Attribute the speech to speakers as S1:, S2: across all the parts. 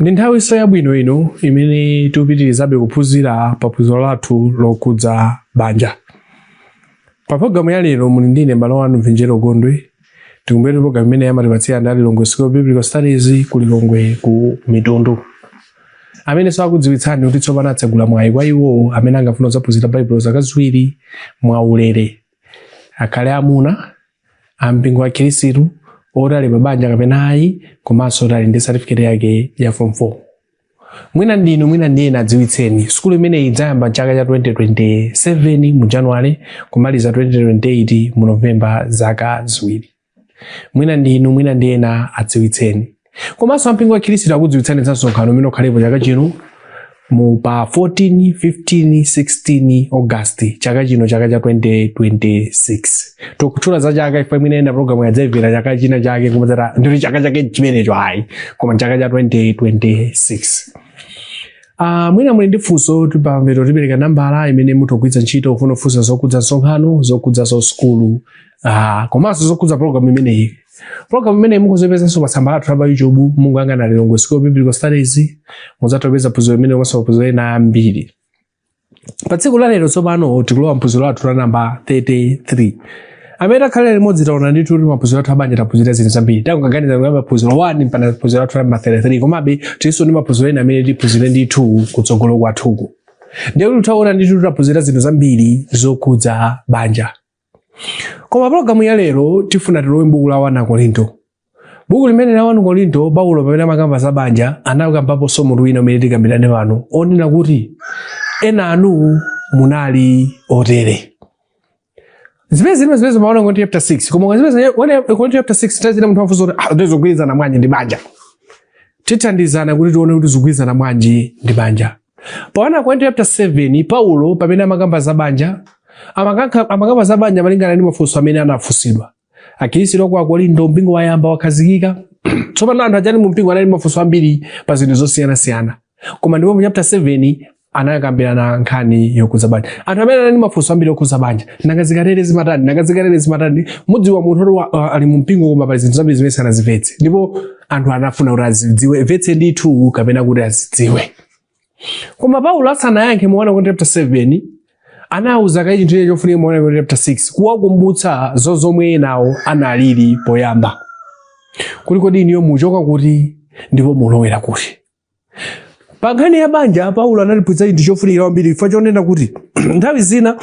S1: Ndi nthawinso yabwino ino imene tikupitirizabe kuphunzira pa phunziro lathu lokhudza banja. Pa pologalamu ya lero muli ndine mbale wanu Mvinjero Gondwe. Tikumbukire kuti pologalamu imeneyi amatipatsira ndi Lilongwe School of Biblical Studies ku Lilongwe ku Mitundu. Amenenso akudziwitsani kuti tsopano atsegula mwayi kwa iwo amene angafuna kudzaphunzira Baibulo zaka ziwiri mwaulere. akhale amuna a mpingo wa khirisitu oti ali pabanja kapena ayi komanso oti ali ndi satifiketi yake ya form 4 mwina ndinu mwina ndi ena adziwitseni sukulu imeneyi idzayamba chaka cha 2027 mu januwale kumaliza 2028 mu novemba zaka ziwiri mwina ndi inu mwina ndi ena adziwitseni komanso ampingo wa khristu akudziwitsani za msonkhano umene ukhalepo chaka chino mu pa 14 15 16 august chaka chino chaka cha 2026 tikutchula za chaka ife mwina ena programuyi adzayimvera chaka china chake kumadzati ndi chaka chake chimenecho ayi koma chaka cha 2026 Uh, mwina muli ndi funso ti- pamapeto tipereka nambala imene mutha kugwiritsa ntchito kufuna kufunsa zokhudza msonkhano zokhudza za sukulu Ah, komanso zokhudza program imeneyi program imeneyi mukhoza kuipezanso pa tsamba lathu la pa youtube mukayang'ana lilongwe school of biblical studies mudzatha kupeza phunziro limeneli komanso maphunziro ena ambiri pa tsiku la lero tsopano tikulowa mphunziro lathu la namba 33 amene takhala limodzi taona ndithu kuti maphunziro athu a banja taphunzira zinthu zambiri tangoganiza kuyamba phunziro 1 mpaka phunziro lathu la namba 33 komabe tilinso ndi maphunziro ena amene tiphunzire ndithu kutsogolo kwathuku ndiye kuti taona ndithu taphunzira zinthu zambiri zokhudza banja koma pologalamu ya lero tifuna tilowe m'buku la 1 akorinto buku limeneli la 1 akorinto paulo pamene amakamba za banja anakambaponso mutu wina umene tikambirane pano onena kuti ena a inu munali otere zimene zili mu zimene zili mu 1 akorinto chapter 6 koma kwa zimene 1 akorinto chapter 6 nthawi zina munthu wafunsa kuti ah ndi zogwirizana bwanji ndi banja tithandizana kuti tione kuti zogwirizana bwanji ndi banja Pa 1 Akorinto chapter 7 Paulo pamene amakamba za banja amakankha- amakamba za banja malingana ndi mafunso amene anafunsidwa. Akristu a ku Akorinto mpingo wayamba wakhazikika. Tsopano anthu aja mu mpingo anali ndi mafunso ambiri pa zinthu zosiyanasiyana. Koma ndipo mu chapter 7 anakambirana nkhani yokhudza banja. Anthu amene anali ndi mafunso ambiri okhudza banja. Nanga zikatere zimatani? Nanga zikatere zimatani? Mudziwa munthu oti wa- ali mu mpingo koma pali zinthu zambiri zimene sanazimvetse. Ndipo anthu anafuna kuti azidziwe vetse ndithu kapena kuti azidziwe koma paulo asanayankhe mu 1 akorinto chapter 7 anawuza kaye chinthu china chofunika mu 1 akorinto chapter 6 kuwakumbutsa zo zomwe enawo analili poyamba kuti kodi inuyo muchoka kuti ndipo mulowera kuti pa nkhani ya banja paulo anatiphunzitsa chinthu chofunikira kwambiri chifukwa chonena kuti nthawi zina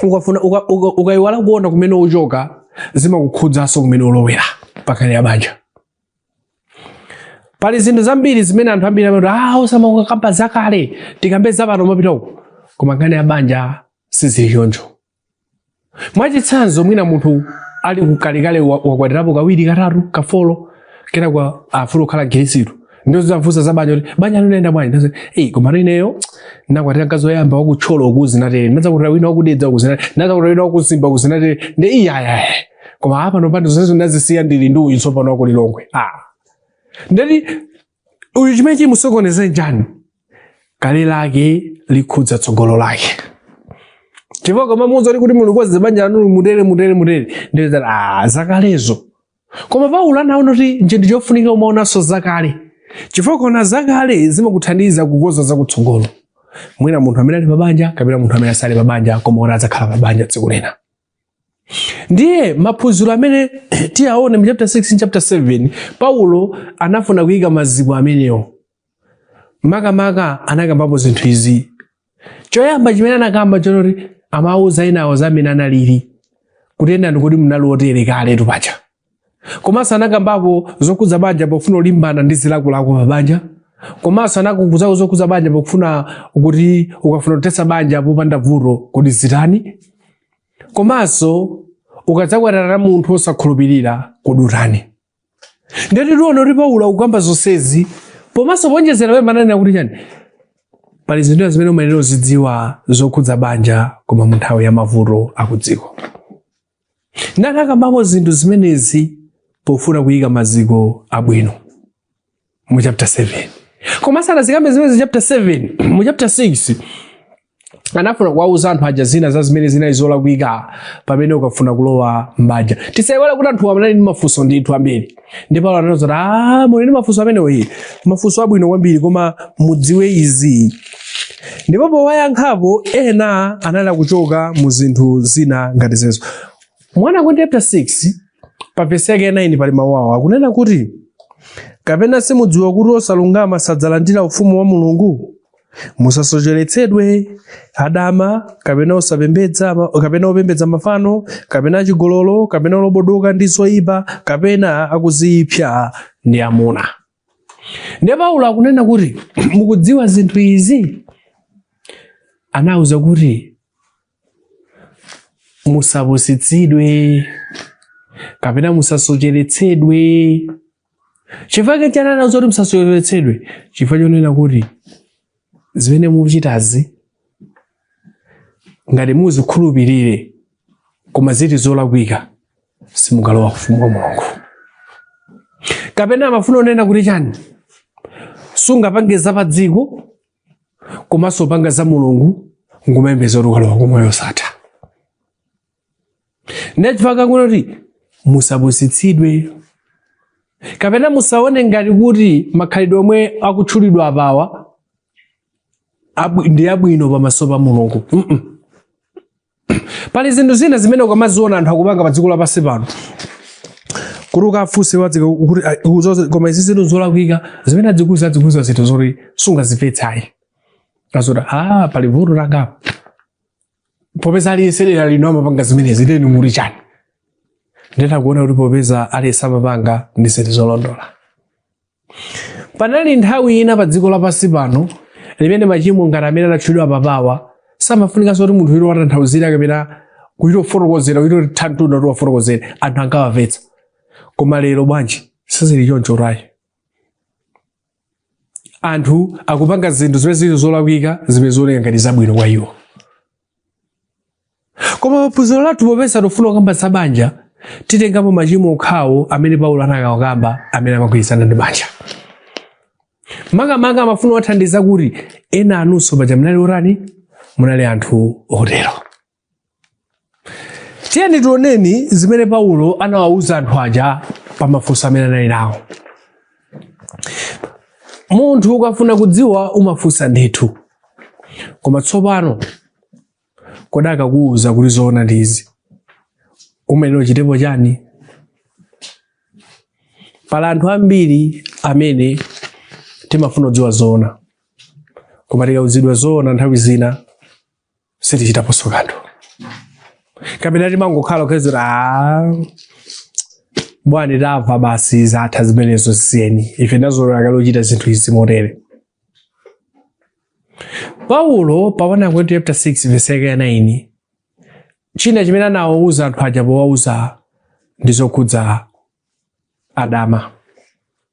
S1: ukafuna uka- uka- ukayiwala kuona kumene uchoka zimakukhudzanso kumene ulowera pa nkhani ya banja pali zinthu zambiri zimene anthu ambiri amati ah osamakamba zakale tikambe zapano tizipita uko koma nkhani ya banja sizili choncho mwachitsanzo mwina munthu ali kukalekale wa- wakwatirapo kawiri katatu kafolo kenako afuna kukhala Mkhristu ndiye uzimufunsa za banja kuti banja linaenda bwanji ndiye eh koma no ineyo nakwatira mkazi woyamba waku Thyolo koma zinatere ndadzakwatira wina waku Dedza koma zinatere ndadzakwatira wina waku Mzimba koma zinatere ndiye iyayi koma panopa nda zonse ndazisiya ndili ndi uyu tsopano waku Lilongwe ah ndati uyu chimene chimusokoneze n'chiyani kale lake likhudza tsogolo lake chifukwa kumamuuza zoti kuti mulungu wadziwa banja lanu mutere mutere mutere ndiye zati ah zakalezo koma paulo anaona kuti chinthu chofunika umaonanso zakale chifukwa kuona zakale zimakuthandiza kukonza zakutsogolo mwina munthu amene ali pabanja kapena munthu amene sali pabanja koma naye adzakhala pabanja tsiku lina ndiye maphunziro amene tiyaone mu chapter 6 ndi chapter 7 paulo anafuna kuyika maziko amenewo makamaka anakambapo zinthu izi choyamba chimene anakamba n'chonoti amawauza enawo za mmene analili kuti enanu ndikuti munali otere kaletu paja komanso anakambapo zokhudza banja pofuna kulimbana ndi zilakolako pa banja komanso anakuuzako zokhudza banja pofuna kuti ukafuna kuthetsa banja popanda vuto kodi uzitani komanso ukadzakwatirana na munthu osakhulupirira kodi utani ndiyetu tiona kuti paulo akukamba zonsezi komanso poonjezera pamwamba ananena kuti chani pali zinthu zimene umayenera uzidziwa zokhudza banja koma mu nthawi ya mavuto akudziko Ndiye anakambako zinthu zimenezi pofuna kuyika maziko abwino mu chapter 7 koma asanazikambe zimenezi chapter 7 mu chapter 6 anafuna kuwauza anthu aja zina za zimene zinali zolakwika pamene ukafuna kulowa m'banja tisaiwale kuti anthu anali ndi mafunso ndithu ambiri ndipo paulo ananena kuti "Ah, muli ndi mafunso amenewo iyayi mafunso abwino kwambiri koma mudziwe izi ndipo powayankhapo ena anali kuchokera mu zinthu zina ngati zimenezo muona ku chapter 6 pa vesi yake ya 9 pali mawu awo akunena kuti kapena simudziwa kuti osalungama sadzalandira ufumu wa mulungu musasocheretsedwe adama kapena osapembedza kapena opembedza mafano kapena achigololo kapena olobodoka ndi zoipa kapena akudziipsa ndi amuna ndiye paulo akunena kuti mukudziwa zinthu izi anawauza kuti musapusitsidwe kapena musasocheretsedwe chifukwa chani anauza kuti musasocheretsedwe chifukwa chonena kuti zimene muchitazi ngati muzikhulupirire koma ziti zolakwika simungalowa ufumu wa mulungu kapena amafuna unena kuti chani sungapange za pa dziko komanso panga za mulungu nkumayembekeza kuti ukalowa kumoyo wosatha nde chifukwa kuti musapusitsidwe kapena musaone ngati kuti makhalidwe omwe akutchulidwa apawa abwi- ndi abwino pamaso pa mulungu Mm-mm. pali zinthu zina zimene ukamaziona anthu akupanga pa dziko lapansi pano kuti ukafunse wadzika kuti ah, uzoze- koma izi zinthu zolakwika zimene adzikuza adzikuza zinthu zoti sungazimvetsayi azoti ah pali vuto langapo popeza aliyense dera lino amapanga zimenezi nde ndimuli chani nditha kuona kuti popeza aliyense amapanga ndi zinthu zolondola inali nthawi ina pa dziko lapansi pano imene machimo ngati amene anatchulidwa apawa samafunikanso kuti munthu wina awatanthauzire kapena kuchita kufotokozera kuchita tantunda kuti awafotokozere anthu ankawamvetsa koma lero bwanji sizili choncho ayi anthu akupanga zinthu zimene zili zolakwika zimene zioneka ngati zabwino kwa iwo koma paphunziro lathu popeza tufuna kukamba za banja titengapo machimo okhawo amene paulo anakawakamba amene amagwirizana ndi banja makamaka amafuna kuwathandiza kuti ena a inunso paja munali otani munali anthu otero tiyeni tioneni zimene paulo anawawuza anthu aja pa mafunso amene anali nawo munthu ukafuna kudziwa umafunsa ndithu koma tsopano kodi akakuwuza kuti zoona ndi izi umenewo uchitepo chani pali anthu ambiri amene timafuna kudziwa zoona koma tikawuzidwa zoona nthawi zina sitichitaponso kanthu kapena timangokhala kukhazira "Ah, bwana tamva basi zatha zimenezo zisiyeni ife tinazolowera kale kuchita zinthu izi motero paulo pa 1 Akorinto chapter 6 verse yake ya 9 china chimene anawauza anthu aja powauza ndi zokhudza adama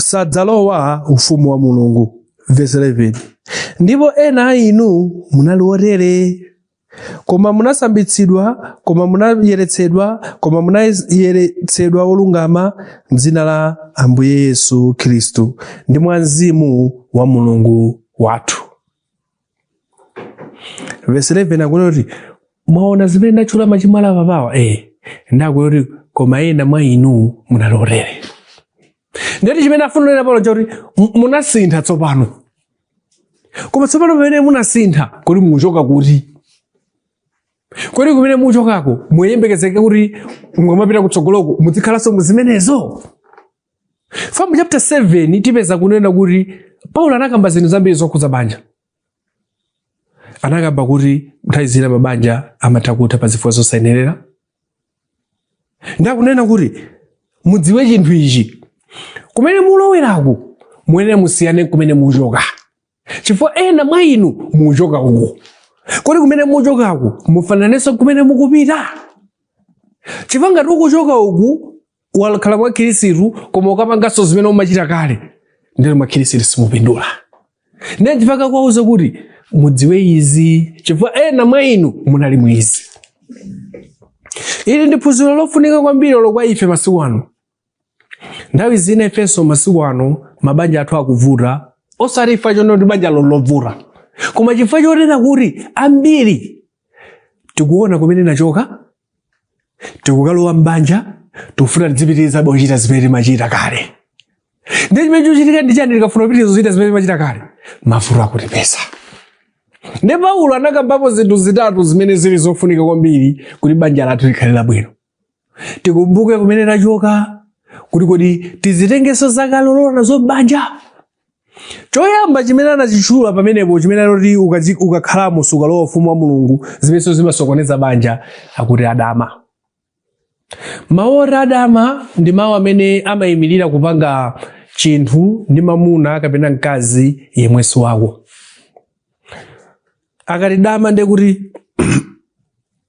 S1: sadzalowa ufumu wa mulungu vesi 11 ndipo ena a inu munali otere koma munasambitsidwa koma munayeretsedwa koma munayeretsedwa olungama m'dzina la ambuye yesu khristu ndi mwa mzimu wa mulungu wathu vesi 11 akuti kuti mwaona zimene ndatchula machimo ali apapawa eh akuti koma ena mwa inu munali otere nde kuti chimene afuna anene apa n'chakuti mu- munasintha tsopano koma tsopano pamene munasintha kodi mukuchoka kuti kodi kumene mukuchokako muyembekezeke kuti mukamapita kutsogoloko muzikhalanso mu zimenezo From chapter 7 tipeza kunena kuti Paulo anakamba zinthu zambiri zokhudza banja. Anakamba kuti nthawi zina mabanja amatha kutha pa zifukwa zosayenerera. Nde akunena kuti mudziwe chinthu ichi kumene muloweraku muyenera musiyane n'kumene muchoka chifukwa ena mwa inu muchoka uku kodi kumene muchokaku mufananenso n'kumene mukupita chifukwa ngati ukuchoka uku wakhala mwa khirisitu koma ukapanganso zimene umachita kale nde uli mwa khirisitu simupindula ndiye chifukwa akuwauza kuti mudziwe izi chifukwa ena mwa inu munali mu izi ili ndi phunziro lofunika kwambiri olo kwa ife masiku ano nthawi zina ifenso masiku ano mabanja athu akuvuta osati chifukwa chonena kuti banja ndi lovuta koma chifukwa chonena kuti ambiri tikuona kumene tachoka tikukalowa m'banja tikufuna tidzipitirizabe kuchita zimene timachita kale ndiye chimene chichitika ndi chani tikafuna kupitiriza kuchita zimene timachita kale mavuto akutipeza ndiye paulo anakambapo zinthu zitatu zimene zili zofunika kwambiri kuti banja lathu likhale labwino tikumbuke kumene tachoka kuti kodi tizitengenso zakale kulowa nazo m'banja choyamba chimene anachitchula pamenepo chimene anati uka- ukakhalamo sukalowa ufumu wa mulungu zimenenso zimasokoneza banja akuti adama mawu oti adama ndi mawu amene amayimirira kupanga chinthu ndi mamuna kapena mkazi yemwe si wako akati dama ndiye kuti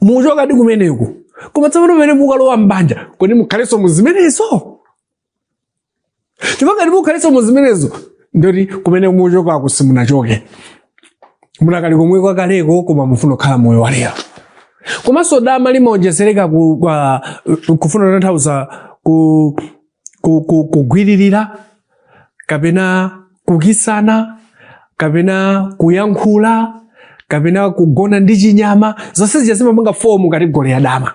S1: muchokadi kumeneko koma tsopano pamene mukalowa m'banja kodi mukhalenso mu zimenezo chifukwa ngati mukhalenso mu zimenezo ndiye kuti kumene muchokako simunachoke mudakali komwe kwakaleko koma mufuna kukhala moyo walero komanso dama limaonjezereka ku- kwa- kufuna kutanthauza ku kugwiririra kapena kukisana kapena kuyankhula kapena kugona ndi chinyama zonse zija zimapanga fomu category ya dama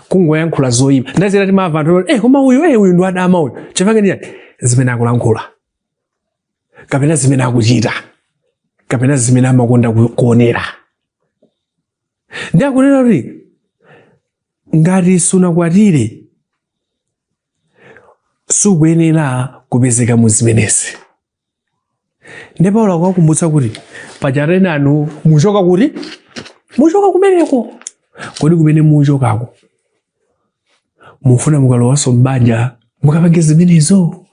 S1: kungoyankhula zoyipa nthawi zina timamva anthu eh koma uyu eh uyu ndi wadama uyu chifukwa cha chani zimene akulankhula kapena zimene akuchita kapena zimene amakonda kuonera nde akunena kuti ngati sunakwatire sukuyenera kupezeka mu zimenezi nde paulo akuwakumbutsa kuti pajatu enanu muchoka kuti muchoka kumeneko kodi kumene muchokako mufuna mukalowanso m'banja mukapange zimenezo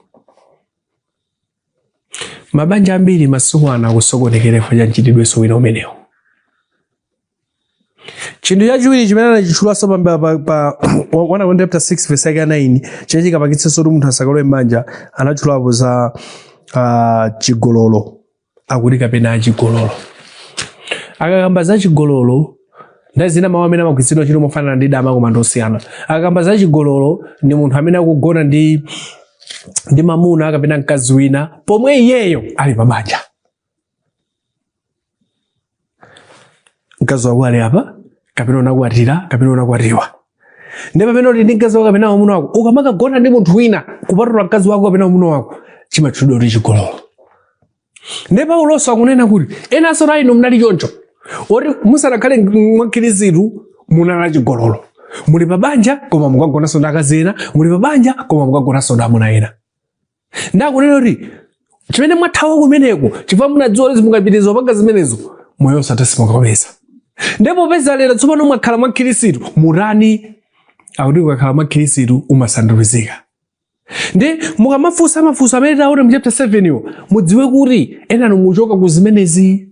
S1: mabanja ambiri masiku ano akusokonekera chifukwa cha mchitidwenso wina umenewo chinthu chachiwiri chimene anachitchulanso pambali pa, pa 1 Akorinto chapter 6 verse yake ya 9 chimene chikapangitsenso kuti munthu asakalowe m'banja anatchulapo za uh, chigololo akuti kapena achigololo akakamba za chigololo nthawi zina mawu amene amagwiritsidwa ntchito mofanana ndi dama koma ndosiyana akakamba za chigololo ndi munthu amene akugona ndi ndi mamuna kapena mkazi wina pomwe iyeyo ali pabanja mkazi wako ali apa kapena unakwatira kapena unakwatiwa nde pamene uli ndi mkazi wako kapena mwamuna wako ukamakagona ndi munthu wina kupatula mkazi wako kapena mwamuna wako chimatchulidwa kuti chigololo nde pauloso akunena kuti enanso a inu munali choncho oti musanakhale mwa khristu munali chigololo muli pa banja koma mukagonanso ndi akazi ena muli pa banja koma mukagonanso ndi amuna ena Ndakunena kuti chimene mwathawa kumeneko chifukwa munadziwa kuti mukapitiriza kupanga zimenezo moyo wosatha simukapeza. Ndiye popeza lero tsopano mwakhala mwa Khristu mutani? Akuti ukakhala mwa Khristu umasandulizika. Nde mukamafunsa mafunso amene tione mu chapter 7 yo mudziwe kuti enanu muchoka ku zimenezi.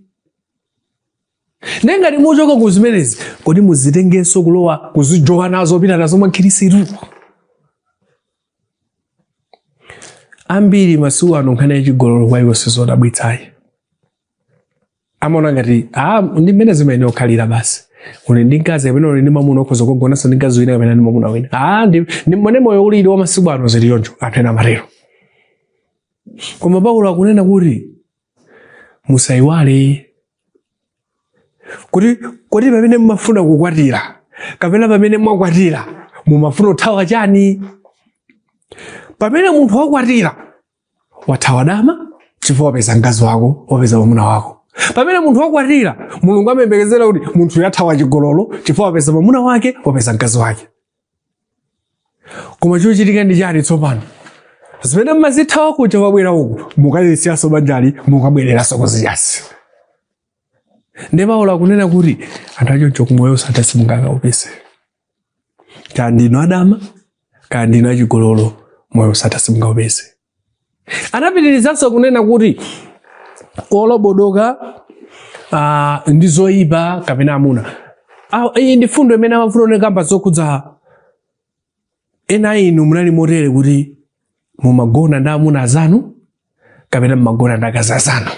S1: Nde ngati muchoka ku zimenezi kodi muzitengenso kulowa kuzijowa nazo pita nazo mwa Khristu? ambiri masiku ano nkhani ya chigololo kwa iwo sizodabwitsa ayi amaona ngati ah, ndi mmene zimayenera kukhalira basi uli ndi mkazi kapena uli ndi mwamuna okhoza kugonanso ndi mkazi wina kapena ndi mwamuna wina ah, ndi ndi mmene moyo ulili wa masiku ano zili choncho anthu ena amatero koma paulo akunena kuti musaiwale kuti kodi pamene mumafuna kukwatira kapena pamene mwakwatira mumafuna kuthawa chani pamene munthu wakwatira wathawa dama chifukwa wapeza mkazi wako wapeza mwamuna wako pamene munthu wakwatira mulungu amayembekezera kuti munthuyo athawa chigololo chifukwa wapeza mwamuna wake wapeza mkazi wake koma chochitika ndi chani tsopano zimene mmazithawa kuja wabwera uku mukalisiyanso banjali mukabwereranso kuziyasi nde paulo akunena kuti anthu achoncho moyo osatha simungakaupeze kaya ndinu adama kaya ndinu achigololo moyo osatha simungaupeze Anapitirizanso kunena kuti olobodoka ah, ndi zoyipa kapena amuna. Ah, Iyi ndi mfundo imene amafuna kukamba zokhudza ena a inu munali motere kuti mumagona ndi amuna azanu kapena mumagona ndi akazi azanu.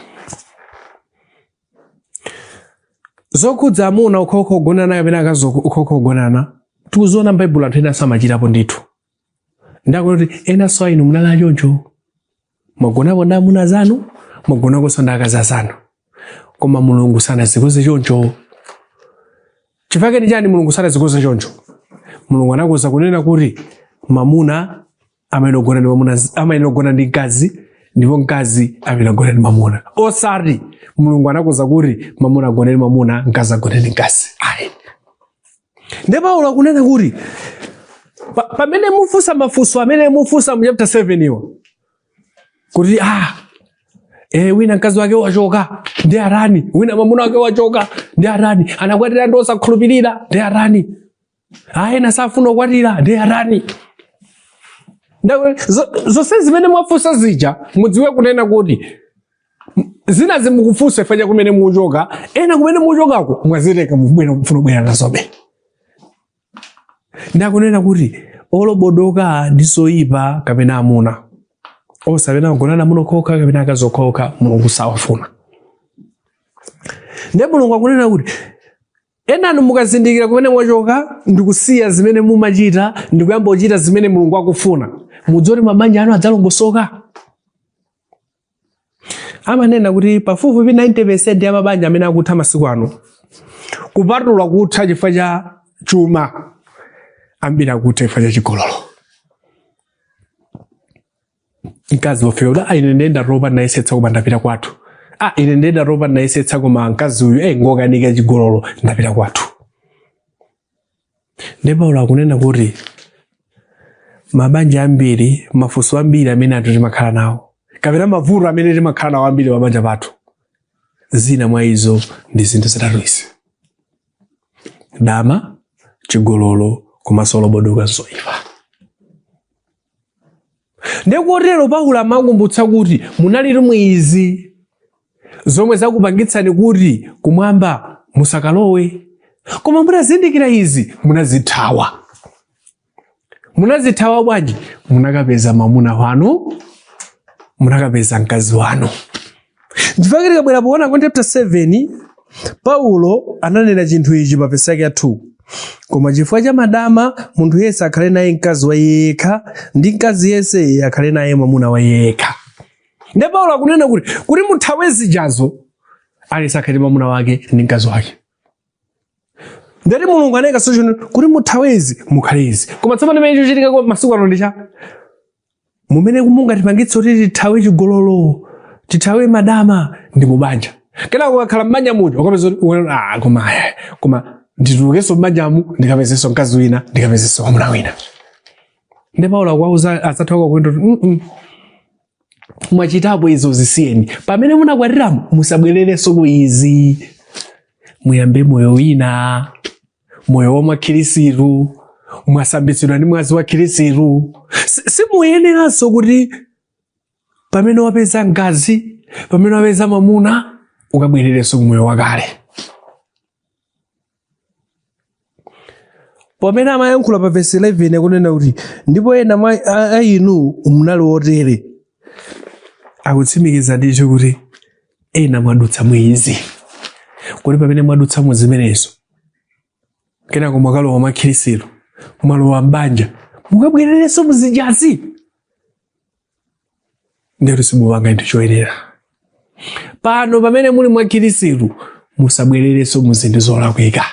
S1: Zokhudza amuna okhaokha ogonana kapena akazi okhaokha ogonana tikuziona m'Baibulo anthu enanso amachitapo ndithu. nde akuti enanso a inu munali achoncho mwagonako ndi amuna azanu mwagonakonso ndi akazi azanu koma mulungu sanazikonze choncho chifukwa chake chani mulungu sanazikonze choncho mulungu anakonza kunena kuti mamuna amayenera kugona ndi mamuna amayenera kugona ndi mkazi ndipo mkazi amayenera kugona ndi mamuna osati mulungu anakonza kuti mamuna agone ndi mamuna mkazi agone ndi mkazi ayi Nde Paulo akunena kuti pa, pamene mufunsa mafunso amene mufunsa mu chapter 7 wo kuti ah e wina mkazi wake wachoka nde atani wina mwamuna wake wachoka nde atani anakwatira ndi osakhulupirira nde atani ah ena safuna kukwatira nde atani Ndawe- zo- zonse zimene mwafunsa zija mudziwe kunena kuti zina zimene mukufunsa chifukwa cha kumene mukuchoka ena kumene mukuchokako mwazitenga mubwera mufuna kubwera nazobe nde akunena kuti olobodoka ndi zoyipa kapena amuna onse amene agonana amuna okhaokha kapena akazi okhaokha mulungu sawafuna ndiye mulungu akunena kuti enanu mukazindikira kumene mwachoka ndikusiya zimene mumachita ndikuyamba kuchita zimene mulungu akufuna mudziwa kuti mabanja anu adzalongosoka amanena kuti pafupifupi 90 percent ya mabanja amene akutha masiku ano kupatula kutha chifukwa cha chuma ambiri akutha chifukwa cha chigololo mkazi wofika kuti "Ah, ine nde ndatopa ndayesetsa koma ndapita kwathu ah, ine nde ndatopa ndayesetsa koma mkazi uyu eh, ngokanika chigololo ndapita kwathu Nde Paulo akunena kuti mabanja ambiri, mafunso ambiri amene anthu timakhala nawo, kapena mavuto amene timakhala nawo ambiri pabanja pathu, zina mwa izo ndi zinthu zitatu izi: dama, chigololo komanso olobodoka ndi zoipa. ndiye kotero paulo amakumbutsa kuti munalitu mu izi zomwe zakupangitsani kuti kumwamba musakalowe koma mutazindikira izi munazithawa munazithawa bwanji munakapeza mamuna wanu munakapeza mkazi wanu Chifukwa tikabwera poona ku chapter 7 Paulo ananena chinthu ichi pa vesi yake ya 2 koma chifukwa cha madama munthu yense akhale naye mkazi wa iye yekha ndi mkazi yense akhale naye mwamuna wa iye yekha nde Paulo akunena kuti kuti muthawe zijazo aliyense akhale ndi mwamuna wake ndi mkazi wake ndiye kuti mulungu anayika solution kuti muthawezi mukhalezi koma tsopano chimene chikuchitika kwa masiku ano ndi cha mumene mungatipangitse kuti tithawe chigololo tithawe madama ndi mubanja kenako ukakhala m'banja muja ukapeza kuti uwe- ah, koma eh, koma nditulukenso m'banjamu ndikapezenso mkazi wina ndikapezenso mwamuna wina ndi paulo akuwauza anthuwa kunena kuti "Mm, mm, mwachitapo izo zisiyeni pamene munakwatiramo musabwererenso ku izi muyambe moyo wina moyo wa mwakhirisitu mwasambitsidwa ndi mwazi wa khirisitu Si- simuyeneranso kuti pamene wapeza mkazi pamene wapeza mamuna ukabwererenso ku moyo wakale pamene amayankhula pa vesi 11 akunena kuti ndipo ena mwa- a a inu munali otere akutsimikiza ndithu kuti ena mwadutsa mu izi kodi pamene mwadutsa mu zimenezo kenako mwakalowa mwa khirisitu mwalowa mbanja mukabwererenso muzijazi ndiyetu simupanga chinthu choyenera pano pamene muli mwa khirisitu musabwererenso mu zinthu zolakwika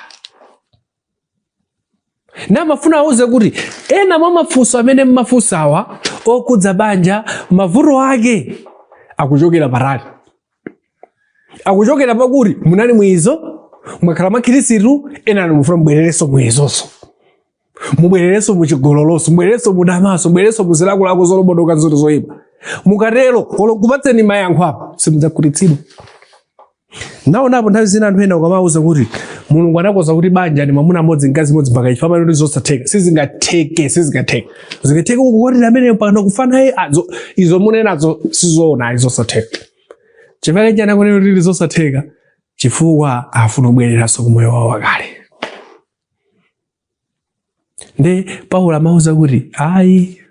S1: ndiye amafuna awauze kuti ena mwa mafunso amene mmafunsawa okudza banja mavuto ake akuchokera patali akuchokera pakuti munali mu izo mwakhala mwa khirisitu enani mufuna mubwererenso mu izonso mubwererenso muchigololonso mubwererenso mudamanso mubwererenso muzilakolako zolobodoka mu zinthu zoyipa mukatero olo ndikupatseni mayankho apa simudzakhutitsidwa Ndaonapo nthawi zina anthu ena ukamawauza kuti Mulungu anakonza kuti banja ni mwamuna mmodzi mkazi mmodzi mpaka imfa amati zosatheka sizingatheke sizingatheke zingatheke kukwatira ameneyo mpaka kufa naye ah, izo munenazo sizoona zosatheka chifukwa chani akunena kuti ndi zosatheka chifukwa afuna kubwereranso ku moyo wawo wakale nde paulo amauza kuti ayi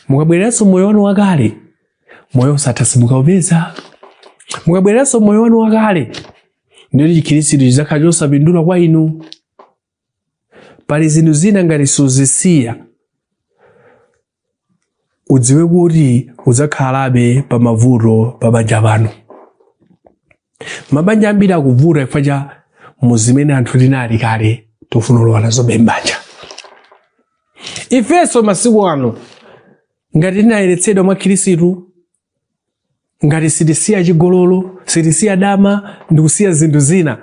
S1: mukabwereranso m'moyo wanu wakale moyo wosatha simukaupeza mukabwereranso m'moyo wanu wakale ndiye chikhristu chidzakhala chosapindula kwa inu pali zinthu zina ngati suzisiya udziwe kuti udzakhalabe pa mavuto pa banja pano mabanja ambiri akuvuta chifukwa cha mu zimene anthu tinali kale tikufuna kulowa nazobe m'banja ifenso masiku ano ngati tinayeretsedwa mwa khirisitu ngati sitisiya chigololo sitisiya dama ndikusiya zinthu zina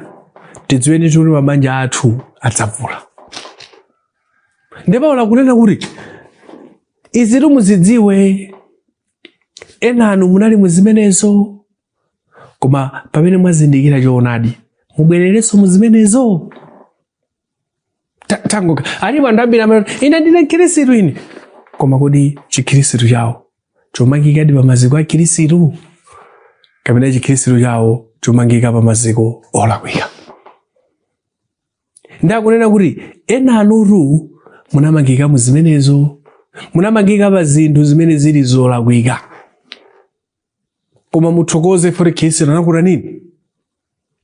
S1: tidziwe ndithu mabanja athu adzavuta ndiye paulo akunena kuti izitu muzidziwe enanu munali muzimenezo koma pamene mwazindikira choonadi mubwererenso muzimenezo Ta- tangoka alipo anthu ambiri amene ine ndine mkhirisitu ine koma kodi chikhirisitu chawo chomangikadi pamaziko a khirisitu kapena chikhirisitu chawo chomangika pamaziko olakwika ndiye akunena kuti enanutu munamangika mu zimenezo munamangika pa zinthu zimene zili zolakwika koma muthokoze chifukwa choti khristu anakutanini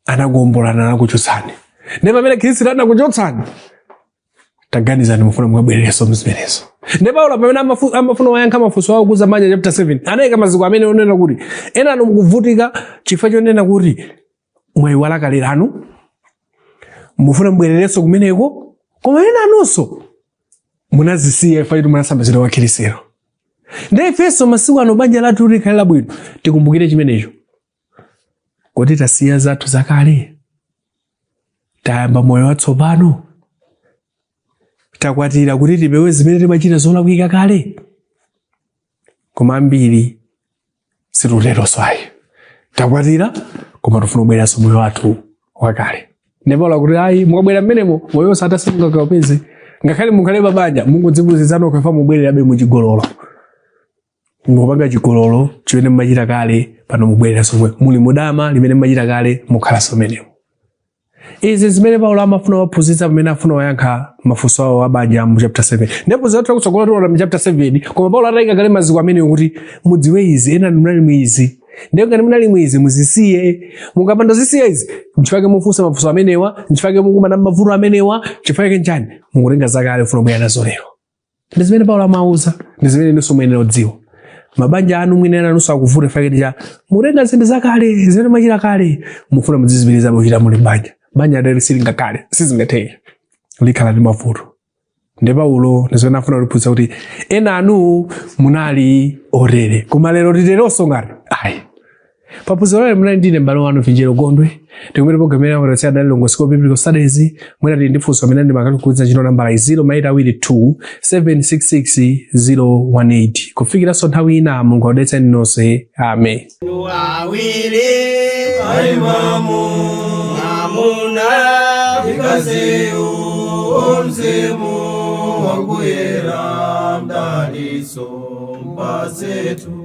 S1: anakuombolani anakuchotsani ndiye pamene khristu anakuchotsani taganizani mufuna mukabwerereso mzimenezo ndiye paulo pamene amafu- amafuna kuwayankha mafunso awo okhudza banja chapter 7 anayika maziko amene onena kuti enanu mukuvutika chifukwa chonena kuti mwayiwala kale lanu mufuna mbwererenso kumeneko koma enanunso munazisiya chifukwa choti munasambitsidwa kwa khirisitu ndiye ifenso masiku ano banja lathu kuti likhale labwino tikumbukire chimenecho kuti tasiya zathu zakale tayamba moyo watsopano takwatira kuti tipewe zimene timachita zolakwika kale koma ambiri sititeronso ayi takwatira koma tifuna kubwereranso moyo wathu wakale ndiye paulo akuti ayi mukabwera mmenemo moyo wosatha simungakaupeze ngakhale mukhale pabanja mungodzipusitsa nokha chifukwa mubwererabe muchigololo mukupanga chigololo chimene mumachita kale pano mubwereranso momwemo muli mudama limene mumachita kale mukhalanso mmenemo Izi zimene Paulo amafuna kuwaphunzitsa pamene afuna kuwayankha mafunso awo abanja mu chapter 7. Ndipo zathu kutsogoloku tiona mu chapter 7 koma Paulo ataika kale maziko amenewa kuti mudziwe izi enanu munali mu izi. Ndiye ngati munali mu izi muzisiye. Mukapanda kuzisiya izi. Nchifake mufunsa mafunso amenewa, nchifake mukumana mavuto amenewa, chifukwa nchani? Mukutenga zakale kufuna kubwera nazo lero. ndi zimene paulo amawauza ndi zimene inunso muyenera kudziwa mabanja anu mwina enanunso akuvuta chifukwa choti mukutenga zinthu zakale zimene mumachita kale mufuna mudzizipitirizabe kuchita muli banja banja lotere silingakhale sizingatheke likhala ndi mavuto ndiye paulo ndi zimene afuna kutiphunzitsa kuti enanu munali otere koma lero titeronso ngati ayi paphunziro lalero munali ndine m'bale wanu vinjero gondwe tikumane programu yena amatotsi adali logos school of biblical studies mwina tili ndi funso kapena ndemanga tikugwiritsa ntchito nambala 0 ma 8 awiri 2 766 018 kufikiranso nthawi ina mulungu akudalitseni nonse
S2: amen awiri aimamu mwamuna mkaziyu o mzimu wakuyera mdalitso mpatsetu